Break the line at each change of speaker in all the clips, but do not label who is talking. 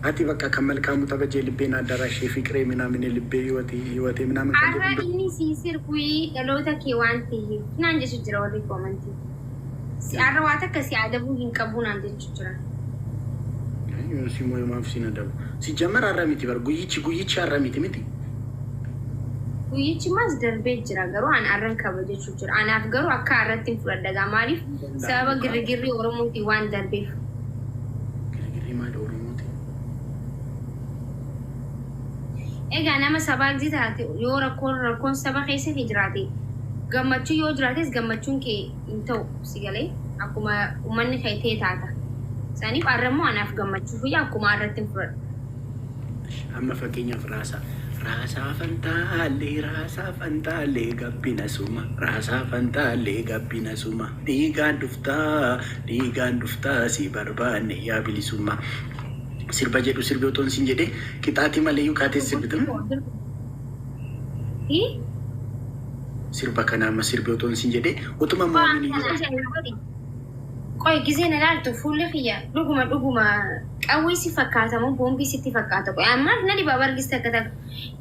Ati bakka kan malkaamu tabajee libbee naaddaaraa ishee fiqiree minaaminee libbee hiwati hiwatee minaamin kan Arra jedhu inni sii
sirbui dhaloota kee waan taheef naan jechu jira warri koomantii. Si arra waa takka si adabuu hin qabuu naan jechu jira.
Yoon si mooye maaf siin adabu. Si jammar har'a miti bar guyyichi guyyichi har'a miti miti.
Guyyichi maas darbee jira garuu an arran kabajachu jira. Anaaf garuu akkaa irrattin fudhadha egaa maaliif sababa girrigirrii Oromootiin waan darbeef. Girigirrii maali Oromootiin? Egaa nama sabaakzi taate yoo rakkoon rakkoon saba keessa kee jiraate gammachuu yoo jiraates gammachuun kee hin ta'u si galee akkuma ummanni kee ta'e taata. Saniif arra immoo anaaf gammachuuf wayya akkuma arrattin fudhadha.
Amma fakkeenyaaf raasaa. Raasaa fantaallee raasaa fantaallee gabbina suma raasaa fantaallee gabbina suma dhiigaan dhuftaa dhiigaan dhuftaa si barbaanne yaa bilisummaa. Sirba jedhu sirbi otoo hin jedhee qixaatii malee yuu kaatee sirbitan. Sirba kana amma sirbi otoo hin jedhee utuma moomini.
Qoy gizee na laaltu fuulli kiyya dhuguma dhuguma qawwee si fakkaata moo boombii sitti fakkaata qoy an maaf na dhibaa bar gis takka takka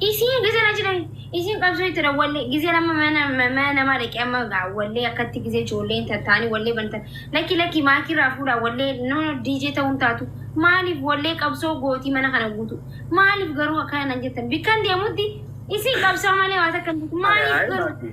isiin gizee na jedhan isiin qabsoo itti dha wallee gizeen amma mana mana namaa dhaqee amma gaa wallee akkatti gizee ijoolleen tattaanii wallee bantan lakki lakki maakii irraa fuudhaa wallee no no DJ ta'uun taatu maaliif wallee qabsoo gootii mana kana guutu maaliif garuu akkana nan jettan bikkan deemutti isiin qabsoo malee waa takka hin jirtu maaliif garuu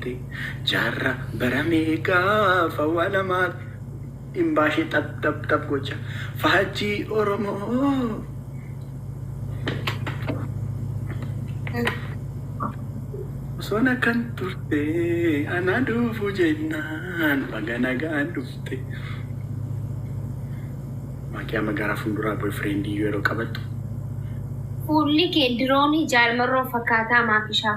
Tti jaarra bara meeqafa wa lamaat hin baashe xab xab xab gocha faajjii oromoo. Osoon akkan turte anaa dhuufu jennaan baga nagaan dhufte. Maakii amma gara funduraa boyfriend iyyuu yeroo qabattu.
Fuulli kee diroonii jaal marroo fakkaataa maafishaa.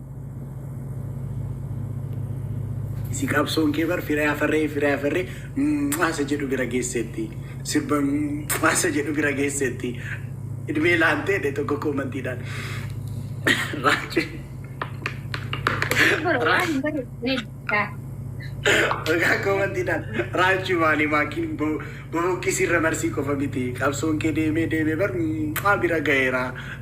Si qabsoon kee bar firee afarree firee afarree maasa jedhu bira geesseetti. Sirba maasa jedhu bira geesseetti. Idmee laantee dhe tokko koomantiidhaan. Raajii. Maqaa koomantiidhaan raajii maalii maakiin boboqqisii irra marsii qofa miti. Qabsoon kee deemee deemee bar maa bira gaheera.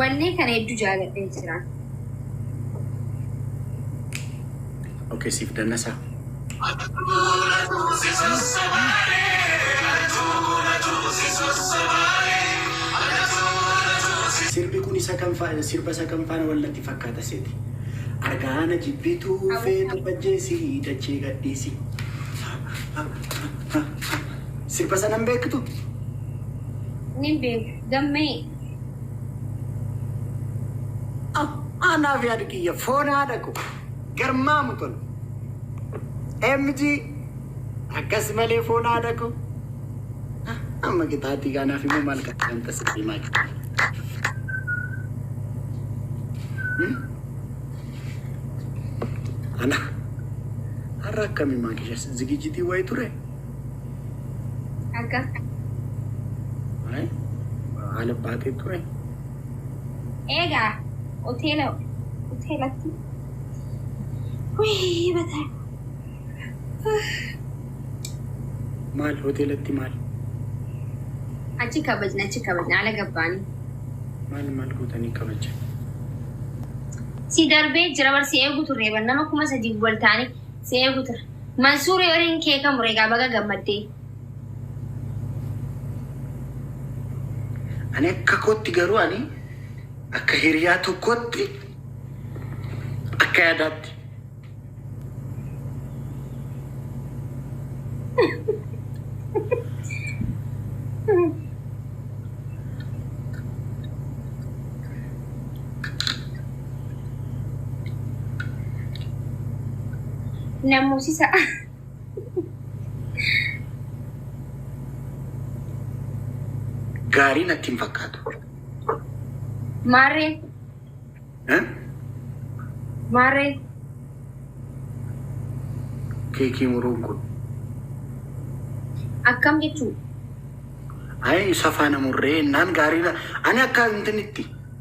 Wallee kana hedduu jaaladhee jira.
Okay, siif dannasaa. Sirbi kun isa kam fa- sirba isa kam faana wal natti fakkaata seeti. Argaana jibbituu feetu bajjeesi dachee gadhiisi. Sirba sana hin beektu?
Nin beeka. Gammee. Ah,
Anaaf yaadi kiyya foon haadha koo garmaamu tole. MG akkas malee foon haadha koo. Ah, Amma qixaatii kaanaaf immoo maal kan tasisii maal kan. Ana har'a akkamii maal keessa zigijitii wayii ture? Akka.
Waa'ee
haala baatee ture.
Eegaa hoteela hoteelatti. Wayii bataa.
Maal hoteelatti maal?
Achi kabajna achi kabajna ala gabbaanii. Maal maal
gootanii kabaja?
Si darbee jira bar si eegu turre bar nama kuma sadii wal taane si eegu turre. Mansuur Erin kee kan mure egaa baga gammaddee.
Ani akka kootti garuu ani akka hiriyaa tokkootti akka yaadaatti.
Na moosisa.
Gaarii natti hin fakkaatu. Maarree
Eh? maarree
Keekii muruun kun.
akkam jechuudha?
Ayi isa faana murree naan gaarii na- ani akka intinitti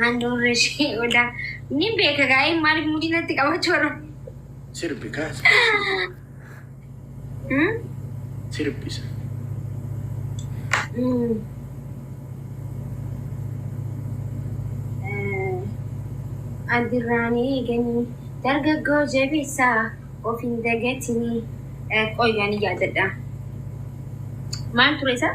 Handhuurri ishee odaa. Ni beeka gaa'een maaliif mudii natti qabachuu warra. Sirbi kaas. Hmm? Sirbisa.
Hmm.
Eh, Addirraanii eeganii dargaggoo jabeessaa of hin dagatinii. Eh, Qoyyaan yaadadha. Maal ture isaa?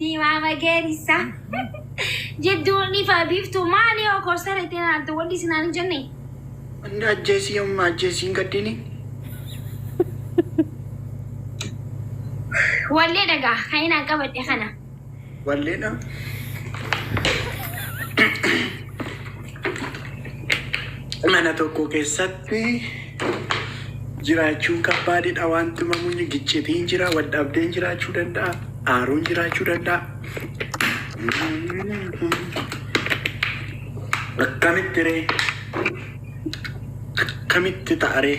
Diimaa mageerissa. Jidduun ifa biiftuu maali yoo korsa reettee naaltu wanti isin hin jenne. Hunda
ajjeesii yommuu ajjeesii hin gaddini.
Wallee dhagaa kan inaan qabadhe kana. Walleedha.
mana tokko keessatti jiraachuun kabbaadidha. Wanti mamunyi giccitiin jira, wadhabdeen jiraachuu danda'a, aaruun jiraachuu danda'a. Akkamitti ree? Akkamitti ta'aree?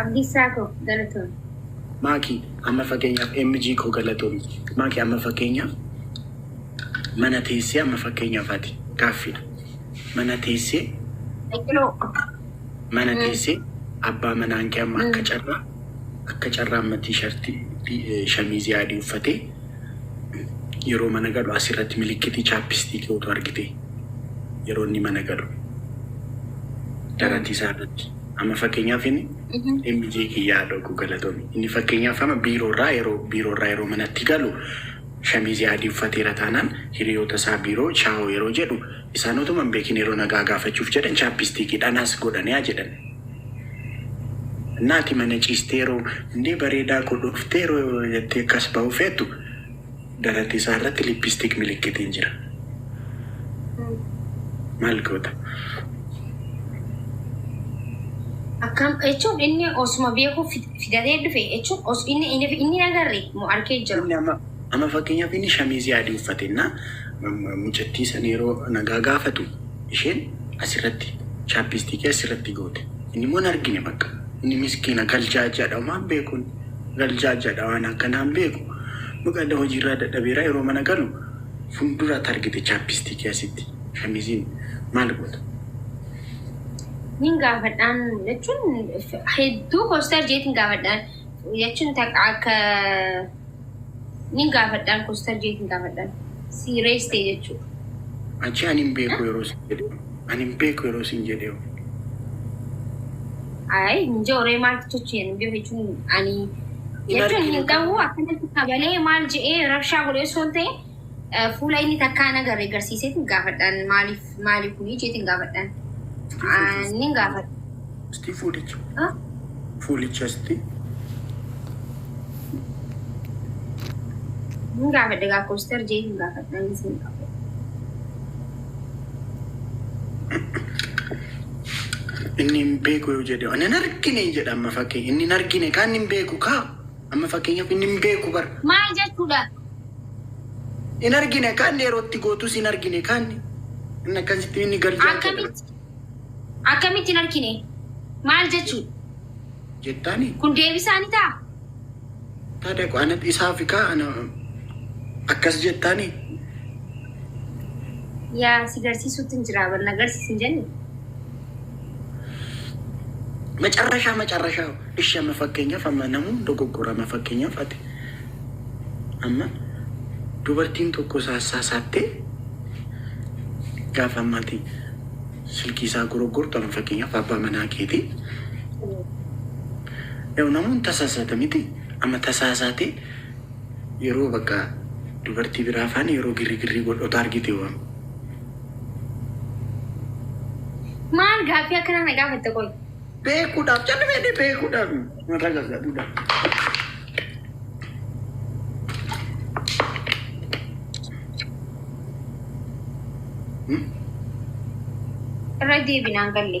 Abdiisaa koo galatoon. Maakii
amma fakkeenyaaf MG koo galatoomi. Maakii amma fakkeenyaaf mana teessee amma fakkeenyaaf ati gaaffiidha. Mana teessee mana teessee abbaa manaan kee amma akka carraa Akka carraa amma tiishartii shamiizii adii uffatee yeroo mana galu asirratti milikkitii chaappistiikii utuu argitee yeroo inni mana galu daratii isaa irratti amma fakkeenyaaf inni MJ kiyyaa dhoguu galatomi inni fakkeenyaaf amma biiroo irraa yeroo biiroo irraa yeroo manatti galu shamiizii adii uffateera taanaan hiriyoota isaa biiroo chaawoo yeroo jedhu Isaan otuma hin beekin yeroo nagaa gaafachuuf jedhan chaappistiikii dhanaas godhaniyaa jedhan. Naati mana ciistee yeroo hundee bareedaa koo dhuftee yeroo jettee akkas ba'uu feetu darate isaa irratti lippistiik milikkitiin jira. Maal goota?
Akkam jechuun inni osuma beekuu fid- fidatee dhufe jechuun os inni inni inni hin agarre moo arkee jira. Inni amma Amma fakkeenyaaf
inni shamiizii adii uffate jennaan, mucattii san yeroo nagaa gaafatu isheen asirratti chaappiistiikii asirratti goote. Inni immoo hin argine bakka. Inni miskiina galjaa jedha homaan beekuun galjaa jedha waan akkanaa hin beeku. Mucadda hojiirraa dadhabeera yeroo mana galu fuulduraatti argite chaappiistiikii asitti shamiiziin maal goota?
Nin gaafadhaan jechuun hedduu koostar jeetiin gaafadhaan jechuun takka akka Nin gaafadhaan kostar jeetin gaafadhaan. Serious ta'e jechuudha. Achi
ani hin beeku yeroo sin jedhe. Ani hin beeku yeroo sin jedhe. Ayi inje oree maaltu tochi
hin beeku jechuun ani jechuun hin ta'u akkanatti kabalee maal je'ee rabshaa godhee osoo hin ta'e Fuula inni takkaa hin agarre garsiiseetiin gaafadhaan maaliif maali kuni jeetiin gaafadhaan. Nin gaafadha. Sti fuulicha.
Ah, Fuulicha sti.
Nin gaafadha gaa kooster jeetiin gaafadhaan isin qabu.
Inni hin beeku yoo jedhe. Ani hin argine jedha amma fakkii. Inni hin argine kaa inni hin beeku kaa. Amma fakkeenyaaf inni hin beeku bar. Maal jechuudha?
Hin
argine kan yeroo itti gootus hin argine kan inni akkasitti inni gad jaachaa jira. Akkamitti?
Akkamitti hin argine? Maal jechuu?
Jettaani Kun deebisaa
ni ta'a?
taada ko ana dhisaa fi kaa ana akkas jettaani
Yaa si garsiisuutti hin jiraa bar na garsiisin jenni.
Macarrashaa macarrashaa ishi amma fakkeenyaaf amma namuu dogoggora amma fakkeenyaaf ati amma dubartiin tokko saassaa saattee gaafa ammaati silkii isaa goroggortu amma fakkeenyaaf abbaa manaa keetii yoo namuun tasaasaata miti amma tasaasaatee yeroo bakka dubartii biraa faana yeroo girrigirrii godhota argite waan
Maal gaaffii akkanaa na gaafatta qoy? Beekuudhaaf
calli fedhe beekuudhaaf mataa gargaaruudhaaf.
Irra deebinaan galle.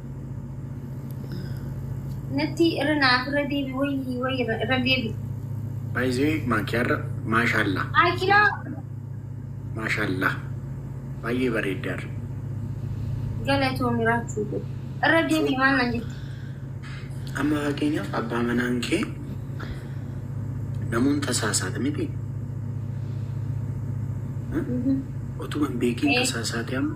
Natti irra naaf irra deebi wayii wayii irra irra deebi. Baay'ee
maakiyaarra maashaallaa. Akiraa Maashaallaa. Baay'ee bareeddaarra. galatoomi
raachuu koo. Irra deebi maal naan jette. Amma
fakkeenyaaf abbaa manaan kee namoon tasaasaati miti. Mhm. Utuma hin beekiin Eh. tasaasaati amma.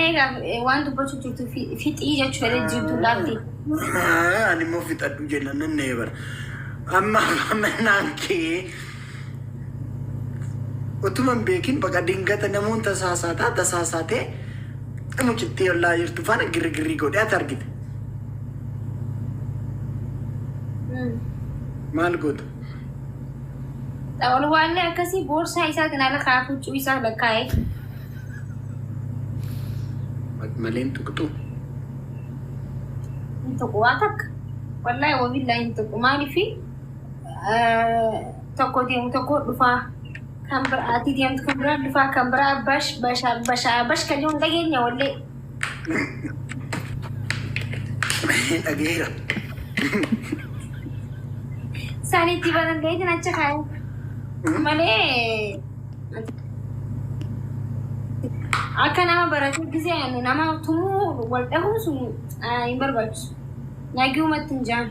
Eegaa eh, waan dubbachuu jirtu fi- fixii jechuu fedhe jirtu dhaabdi. Ani
immoo fixadhu jenna nan na eebara. Amma mannaan kee utuma hin beekin baqa dingata namoon tasaasaataa tasaasaatee mucittii ollaa jirtu faana girgirrii godhee ati argite. Mm. Maal gootu?
Olwaallee akkasii boorsaa isaa kan ala kaa'aa huccuu isaa lakkaa'ee.
Maleen tuqxu.
Hin tuqu waa takka. Wallaahi wabillaahi hin tuqu. Maaliif tokko deemu tokko dhufaa. Kan biraa ati deemtu kan biraa dhufaa kan biraa bash bashaa bashaa bash kan jedhu hin dhageenya wallee.
Dhageera.
Sani itti banan ta'eetiin acha kaa'e. Malee akka nama baratee gisee ani nama tumuu wal dhahuun sun ah, hin barbaachisu. Nagiumatti hin jaan.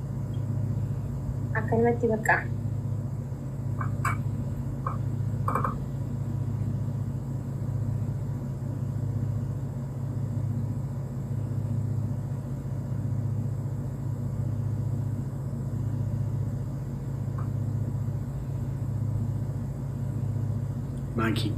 akkanumatti bakka
Maankii.